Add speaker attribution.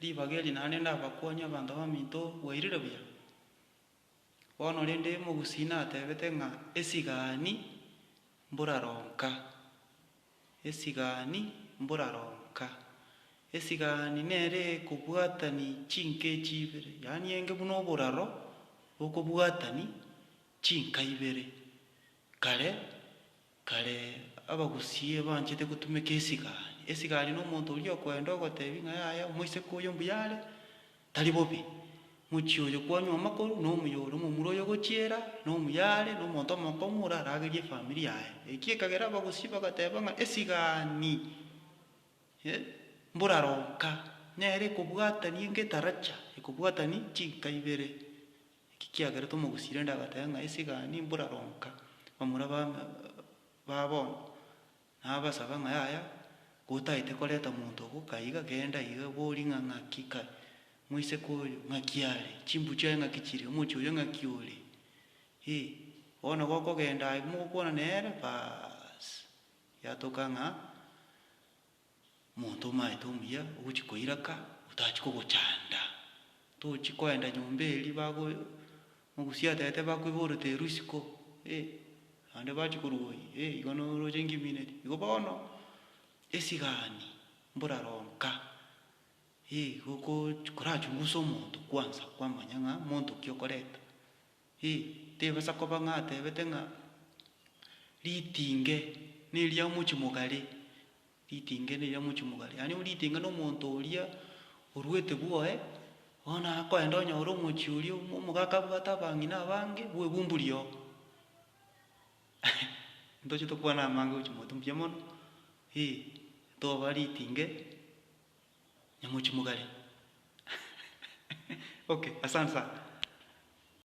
Speaker 1: Ribaga eri naro rende abakuani abanto baminto bwairire buya. Bono rende Mogusii natebete ng'a esigani mburaronka, esigani mburaronka. Esigani nere ekobwatani chinka echi ibere, yaani enge buna oboraro bokobwatani chinka ibere. Kare. Kare abagusie banchete gotumeka esigari. Esigari nomonto oria okoenda ogotebi ng'a yaya omoiseke oyo mbuya are, tari bobe. Mochie oyo kwanywa amakoru nomuya ore, omomura oyo ogochiera nomuya are, nomonto omokong'u ore aragerie efamiri yaye. Eki ekagera abagusie bagateba ng'a esigani eh, mboraro nka, nere ekobwatani engetaracha, ekobwatani chinka ibere. Eki kiagerete omogusii rende agateba ng'a esigani mburaronka bamura bame ba bono, nabasaba ng'a yaya, gotaete koreta monto ogo kaiga genda iga bori ng'a ng'aki kare, moiseke oyo ng'aki are, chimbu chiaye ng'aki chire, omochie oyo ng'aki ore, ee, bono gokogenda aye mogokwana nere, baasi, yatoka ng'a Omonto omaete omuya ogochia koiraka otachia kogochanda, tochia koenda nyomba eria bago mogusia atete bakoiborete risiko eh naende bachia korwa oyi eh igo noroche ngimineti. Igo bono esigani mboraro nka eh igo okochi korachungusa omonto kwanza kwamanya ng'a monto ki okoreta Ee, tebasa koba ng'a atebete ng'a ritinge neria mochi mogare, ritinge neria mochi mogare. Yaani ritinge nomonto oria oruete bwoye, bono akoenda onyore omochi oria omogaka abwate abang'ina abange bwe ebumbu riogo. Ntochete okobana amange gochia motwe mbuya mono, ee, toba ritinge nyamochi mogare. Okay, asante sana.